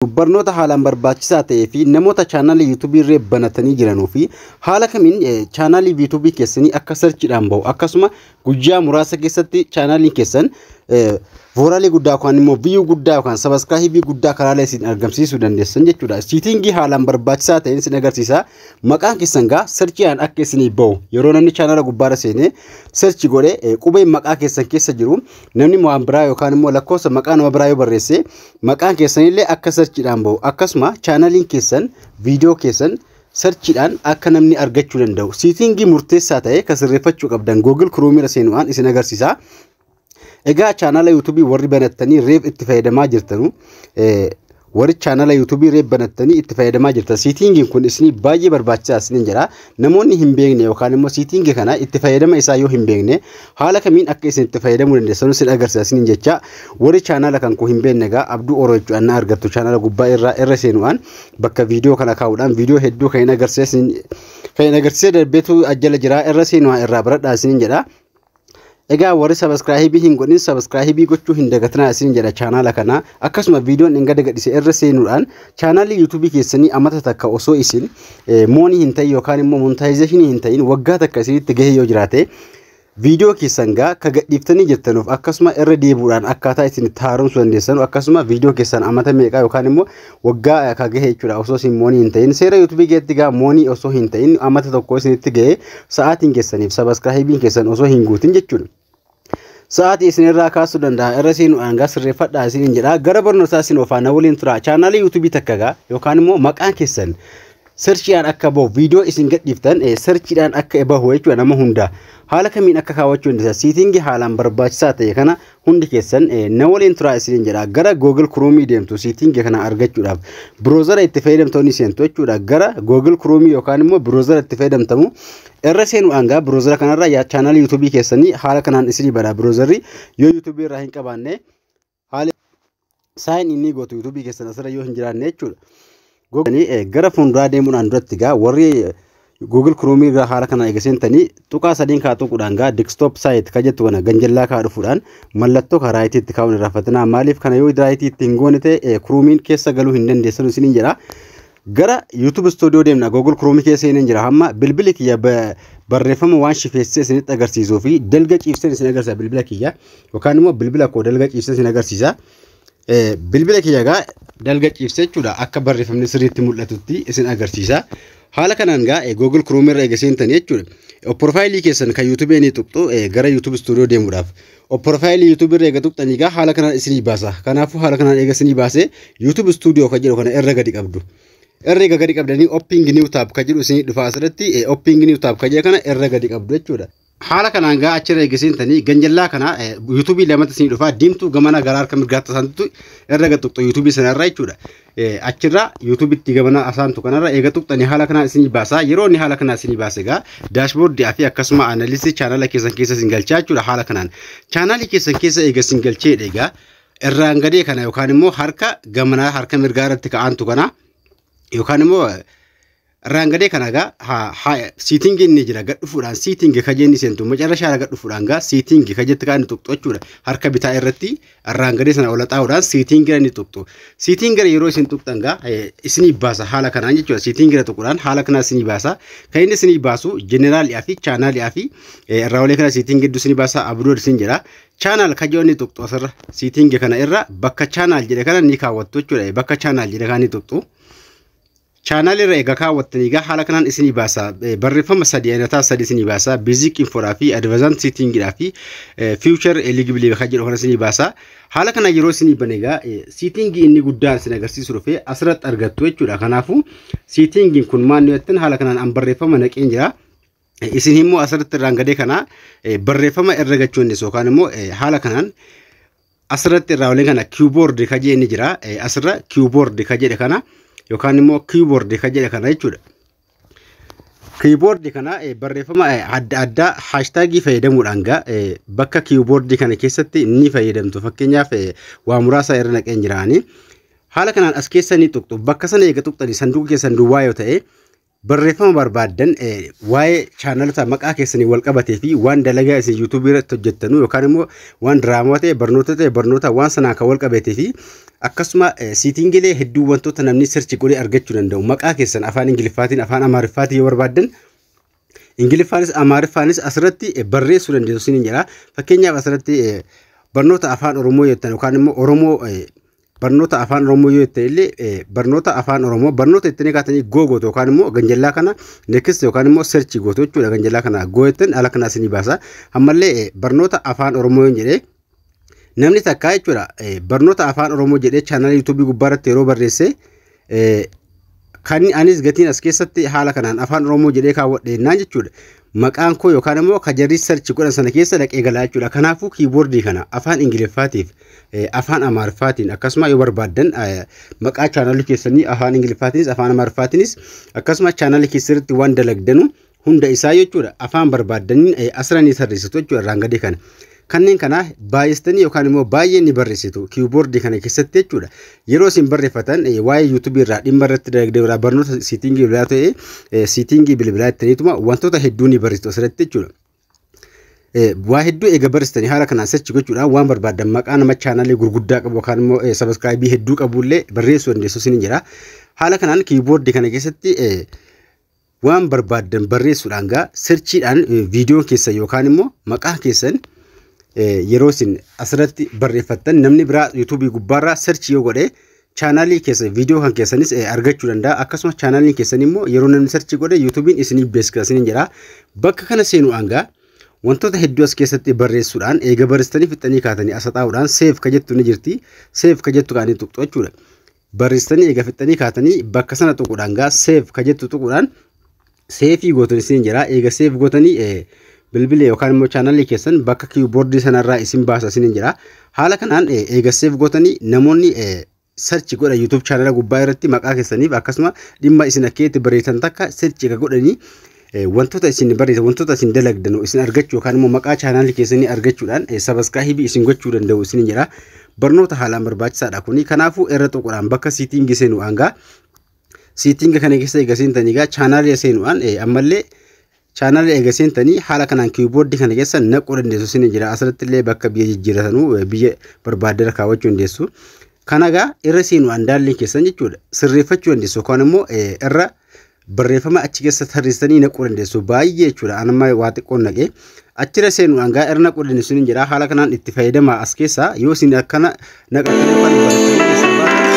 barnoota haalaan barbaachisaa ta'ee fi namoota chaanaalii yuutuubii irree banatanii jiranuu fi haala kamiin chaanaalii yuutuubii keessanii akka sarchiidhaan ba'u akkasuma guyyaa muraasa keessatti chaanaaliin keessan vooraalii guddaa yookaan immoo viiyuu guddaa yookaan sabaskaahibii guddaa karaalee isin argamsiisuu dandeessan jechuudha. Siitingii haalaan barbaachisaa ta'een isin agarsiisa. Maqaan keessan gaa sarchiidhaan akka isinii ba'u yeroo namni chaanaala gubbaarra seenee sarchi godhe qubeen maqaa keessan keessa jiru namni waan biraa yookaan immoo lakkoofsa maqaa nama biraa yoo barreesse Maqaan keessanillee akka sarchiidhaan bahu akkasuma chaanaliin keessan viidiyoo keessan sarchiidhaan akka namni argachuu danda'u siitingii murteessaa ta'e kan sirreeffachuu qabdan Google Chrome irra seenuudhaan isin agarsiisa. Egaa chaanala YouTube warri banattanii reef itti fayyadamaa jirtanu warri chaanala YouTube reef banattanii itti fayyadamaa jirtan siitingiin kun isinii baay'ee barbaachisaa isiniin jedha. Namoonni hin beekne yookaan immoo siitingi kana itti fayyadama isaa yoo hin beekne haala kamiin akka isin itti fayyadamuu dandeessan isin agarsiisa isiniin jecha warri chaanaala kan koo hin beekne egaa abduu oroo jechuudhaan na argattu chaanaala gubbaa irraa irra seenuudhaan bakka viidiyoo kana kaa'uudhaan viidiyoo hedduu kan hin agarsiisa kan hin agarsiisa darbeetu ajjala jira irra seenuudhaan irraa baradhaa isiniin jedha. Egaa warri sabiskiraayibii hin godhin sabiskiraayibii gochuu hin dagatinaa isin jedha chaanaala kana akkasuma viidiyoon hin gadagadhise irra seenuudhaan chaanaalii yuutuubii keessanii amata takka osoo isin moonii hin ta'in yookaan immoo montaayizeeshinii hin ta'in waggaa takka isinitti gahee yoo jiraate viidiyoo keessan gaa ka gadhiiftanii jirtanuuf akkasuma irra deebuudhaan akkaataa isin itti haaromsuu dandeessanu akkasuma viidiyoo keessan amata meeqaa yookaan immoo waggaa ka gahe jechuudha osoo isin moonii hin ta'in seera yuutubii keessatti gaa moonii osoo hin ta'in ammata tokko isinitti gahe sa'aatiin keessaniif sabaskiraayibiin keessan osoo hin guutin jechuudha. Sa'aatii isin irraa kaasuu danda'a irra isin aangaa sirreeffadhaa isin jedha gara barnootaa isin ofaana waliin tura chaanaalii yuutubii takka gaa yookaan immoo maqaan keessan Searchiidhaan akka bahu viidiyoo isin gadhiiftan searchiidhaan akka bahu jechuudha nama hundaa. Haala kamiin akka kaawwachuu dandeessan siitingii haalaan barbaachisaa ta'e kana hundi keessan na waliin turaa isiniin jedha. Gara Google Chrome deemtu siitingii kana argachuudhaaf biroozara itti fayyadamtoonni seentu jechuudha. Gara Google Chrome yookaan immoo biroozara itti fayyadamtamu irra seenuudhaan gaa biroozara kanarra yaa chaanaalii yuutuubii keessanii haala kanaan isinii bana biroozarri yoo yuutuubii irraa hin qabaanne Haali sign inni gootu YouTube keessan asirra yoo hin jiraanne jechuudha. Googanii eh, gara fuulduraa deemuudhaan duratti gaa warri Google Chrome irraa haala kana eega seentanii tuqaa sadiin kaa tuquudhaan gaa desktop site ka jettu kana ganjallaa kaa dhufuudhaan mallattoo kaa raayitii itti kaa'uun irraa fatinaa maaliif kana yoo raayitii itti hin goone ta'e eh, Chrome'n keessa galuu hin dandeessanu isiniin jedha. Gara YouTube Studio deemna. Google Chrome kee seeneen jira. Hamma bilbili kiyya ba- barreeffama waan shifeessee isinitti agarsiisuu fi dalga ciibseen isin agarsiisa bilbila kiyya. Yookaan immoo bilbila koo dalga ciibsee isin agarsiisa. Eh, Bilbila kiyya egaa dalga ciibsee jechuudha akka barreeffamni sirriitti mul'atutti isin agarsiisa. Haala kanaan egaa eh, Google Chrome irra eega seentanii jechuudha. Eh, Profaayilii keessan kan YouTube ni tuqxu eh, gara YouTube Studio deemuudhaaf. Profaayilii YouTube irra eega tuqxanii egaa haala kanaan isinii baasa. Kanaafuu haala kanaan eega isinii baasee YouTube Studio kan jedhu kana irra gadi qabdu. Irra eega gadi qabdanii Opping New Tab kan jedhu isinii dhufa asirratti Opping New Tab kan jedhu kana irra gadi qabdu jechuudha. Haala kanaan gaa achirra eega seentanii ganjallaa kana YouTube lamatti isinii dhufa diimtuu gamana gara harka mirgaatti isaantu irra gad tuqxu YouTube sanarra jechuudha. achirra YouTube itti gamana asaantu kanarra eega tuqxani haala kanaa isinii baasa yeroo inni haala kanaa isinii baase egaa daashboordii fi akkasuma aanalisii chaanala keessan keessa isin galchaa jechuudha haala kanaan chaanaalii keessan keessa eega isin galcheedha egaa irraan gadee kana yookaan immoo harka gamanaa harka mirgaa irratti ka'aantu kana yookaan immoo Irraan gadee kana gaa ha- ha- seating inni jira gad dhufuudhaan seating ka jenni seentu macarrashaa irra gad dhufuudhaan gaa seating ka jetti kaan tuqxu jechuudha harka bitaa irratti irraan gadee sana ola xaa'uudhaan seating irra ni tuqxu seating irra yeroo isin tuqxan gaa eh, isinii baasa haala kanaan jechuudha seating irra tuquudhaan haala kanaa isinii baasa kan inni isinii baasu jeneraalii fi chaanaalii fi eh, irraa olee kana seating gidduu isinii baasa abrood isin jira chaanaal kajoon ni tuqxu asirra seating kana irra bakka chaanaal jedhe kana ni kaawwattu jechuudha bakka chaanaal jedhe kana ni tuqxu Channel irra egaa kaawwattanii egaa haala kanaan isinii baasa. Eh, Barreeffama sadii ayinataa sadii isinii baasa. Basic infoodhaa fi advanced settingidhaa fi eh, future eligible kan jedhu kana isinii baasa. Haala kana yeroo isinii bane egaa eh, setting inni guddaan isin agarsiisu dhufe asirratti argattu jechuudha. Kanaafuu settingin kun maal nu jettan haala kanaan an barreeffama naqeen jira. Eh, Isin immoo asirratti irraan gadee kana eh, barreeffama irra gachuunis yookaan immoo eh, haala kanaan Asirratti irraa waliin kana keyboard ka jedhe ni jira. Asirra keyboard ka jedhe kana yookaan immoo keyboard ka jedhe kana jechuudha. Keyboard kana barreeffama adda addaa haashtaagii fayyadamuudhaan gaa bakka keyboard kana keessatti ni fayyadamtu. Fakkeenyaaf waa muraasa irra naqeen jiraanii. Haala kanaan as keessa ni tuqxu. Bakka sana eega tuqxanii sanduuqa keessan duwwaa yoo ta'e Barreeffama barbaaddan waa'ee chaanalota maqaa keessanii wal qabatee fi waan dalagaa isin yuutuubii irratti hojjettanu yookaan immoo waan diraamaa ta'e barnoota ta'e barnoota waan sanaan kan wal qabatee fi akkasuma siitingilee hedduu wantoota namni sirchi godhee argachuu danda'u maqaa keessan afaan ingiliffaatiin afaan amaariffaatiin yoo barbaaddan ingiliffaanis amaariffaanis asirratti barreessuu dandeessu isiniin jedha fakkeenyaaf asirratti barnoota afaan oromoo jettan yookaan immoo oromoo barnoota afaan oromoo yoo ta'e illee eh, barnoota afaan oromoo barnoota ittiin eegaatanii goo gootu yookaan immoo ganjallaa kana next yookaan immoo search gootu jechuudha ganjallaa kana goo jettan ala kana isinii baasa ammallee eh, barnoota afaan oromoo yoo jedhee namni takkaa jechuudha eh, barnoota afaan oromoo jedhee chaanaalii yuutuubii gubbaarratti yeroo barreesse Kan anis gatiin as keessatti haala kanaan afaan Oromoo jedhee kaawwadhe jennaan jechuudha. Maqaan koo yookaan immoo ka jarri sarchi godhan sana keessa dhaqee galaa jechuudha. Kanaafuu kiiboordii kana afaan Ingiliffaatiif afaan Amaariffaatiin akkasuma yoo barbaaddan maqaa chaanalii keessanii afaan Ingiliffaatiinis afaan Amaariffaatiinis akkasuma chaanalii keessatti waan dalagdanu hunda isaa jechuudha afaan barbaaddaniin eh, asirra ni tarreessitu jechuudha irraan gadii kana. Kanneen kana baay'istanii yookaan immoo baay'ee ni barreessitu kiiwuboordii kana keessatti jechuudha. Yeroo isin barreeffatan eh, waa'ee yuutuubii irraa dhimma irratti dalagdee biraa barnoota siitingii bilbilaa ta'e eh, siitingii bilbilaa ittaniituma wantoota hedduu ni barreessitu asirratti jechuudha. Eh, waa hedduu eega barreessitanii haala kanaan search gochuudhaan waan barbaaddan maqaa nama chaanaalii gurguddaa qabu yookaan immoo eh, sabiskiraayibii hedduu qabullee barreessuu dandeessu isin jira. Haala kanaan kiiboordii kana keessatti eh, waan barbaaddan barreessuudhaan gaa serchiidhaan viidiyoon keessan yookaan immoo maqaa keessan yeroo isin asirratti barreeffattan namni biraa yuutuubii gubbaarraa serchi yoo godhe chaanaalii keessa viidiyoo kan keessanis argachuu danda'a akkasumas chaanaaliin keessan immoo yeroo namni serchi godhe yuutuubiin isiniif beeksisa isiniin jedha bakka kana seenuudhaan gaa wantoota hedduu as keessatti barreessuudhaan eega barreessitanii fixanii kaatanii asaxaa'uudhaan seef ka jettu ni jirti seef ka jettu kaanii tuqxu jechuudha. barreessitanii eega fixxanii kaatanii bakka sana tuquudhaan gaa seef ka jettu tuquudhaan seefii gootan isin jira eega seef gootanii bilbila yookaan immoo chaanalii keessan bakka kiiboordii sanarraa isin baasa isin jira haala kanaan eega seef gootanii namoonni sarchi godha yuutuub chaanala gubbaa irratti maqaa keessaniif akkasuma dhimma isin akkeetti barreessan takka sarchi eega godhanii Wantoota isin barreessan, wantoota isin dalagdan isin argachuu yookaan immoo maqaa chaanaalii keessanii argachuudhaan sabaskaahibii isin gochuu danda'u isin jira. Barnoota haalaan barbaachisaadha kuni. Kanaafuu irra tuquudhaan bakka siitiingi seenu hangaa siitiinga kana keessa eega seentanii egaa chaanaalii seenuudhaan ammallee chaanaalii eega seentanii haala kanaan kiiboordii kana keessa naquu dandeessu isin jira. Asirratti illee bakka biyya jijjiiratanuu biyya barbaaddeera kaawwachuu dandeessu. Kanagaa irra seenuudhaan daalliin keessan jechuudha sirreeffachuu dandeessu yookaan immoo irra barreeffama achi keessa tarreessitanii naquu dandeessu baay'ee jechuudha an amma waa xiqqoon naqee achirra seenuudhaan gaa irra naquu dandeessu ni jedha haala kanaan itti fayyadamaa as keessaa yoo isin akkana naqatanii yookaan barreeffama keessaa baatan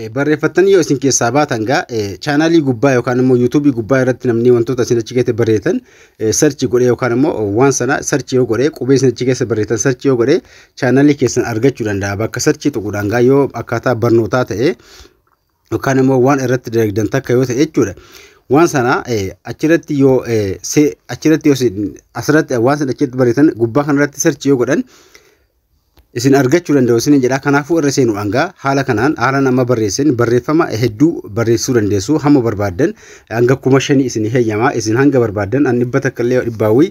Eh, barreeffatanii yoo isin keessaa baatan gaa eh, chaanaalii gubbaa yookaan immoo yuutuubii gubbaa irratti namni wantoota isin achi keessatti barreessan eh, sarchi godhee yookaan immoo oh, waan sana sarchi yoo godhee qubee isin achi keessa barreessan sarchi yoo godhee chaanaalii keessan argachuu danda'a bakka sarchii tuquudhaan gaa yoo akkaataa barnootaa ta'e yookaan immoo waan irratti dalagdan takka yoo ta'e jechuudha. Waan sana achirratti yoo achirratti yoo asirratti waan sana achirratti barreessan gubbaa kanarratti search yoo godhan isin argachuu danda'u isin jedha. Kanaafuu irra seenu hangaa haala kanaan haalaan amma barreessin barreeffama hedduu barreessuu dandeessu hamma barbaaddan hanga kuma shanii isin heeyyama isin hanga barbaaddan an dhibba takka illee dhibbaawwii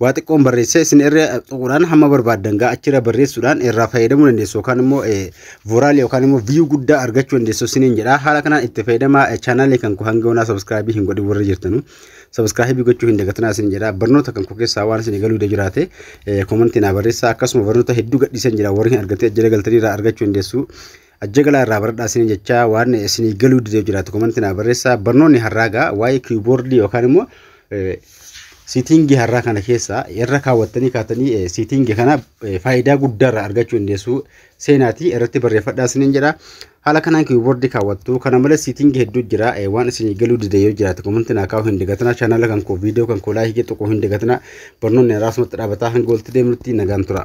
waa xiqqoon barreessee isin irra tuquudhaan hamma barbaaddan gaa achirra barreessuudhaan irraa fayyadamuu dandeessu yookaan immoo vooraal yookaan immoo viyuu guddaa argachuu dandeessu isiniin jedha haala kanaan itti fayyadamaa chaanaalii kan koo hanga onaa sabiskiraabii hin godhin warra jirtanu sabiskiraabii gochuu hin dagatinaa isiniin jedha barnoota kan koo keessaa waan isin galuu jiraate koomantii naa barreessaa akkasuma barnoota hedduu gadhiisan jira warri hin argatin jira galtanii irraa argachuu dandeessu Ajja galaa irraa baradhaa isiniin jechaa waan isinii galuu dideef jiraatu komanti naa barreessaa barnoonni har'aa gaa waa'ee kiiboordii yookaan immoo siitiingii har'aa kana keessaa irra kaawwattanii kaatanii siitiingii kana faayidaa guddaa irraa argachuu dandeessu seenaatii irratti barreeffadhaa isiniin jedha haala kanaan kiiboordii kaawwattu kana malees siitiingii hedduu jira waan isinii galuu dide yoo jiraatu komanti naa kaa'uu hin dagatinaa chaanaala kan koo viidiyoo kan koo laayikii tuquu hin dagatinaa barnoonni har'aa asumatti dhaabataa hanga walitti deemnutti nagaan tura.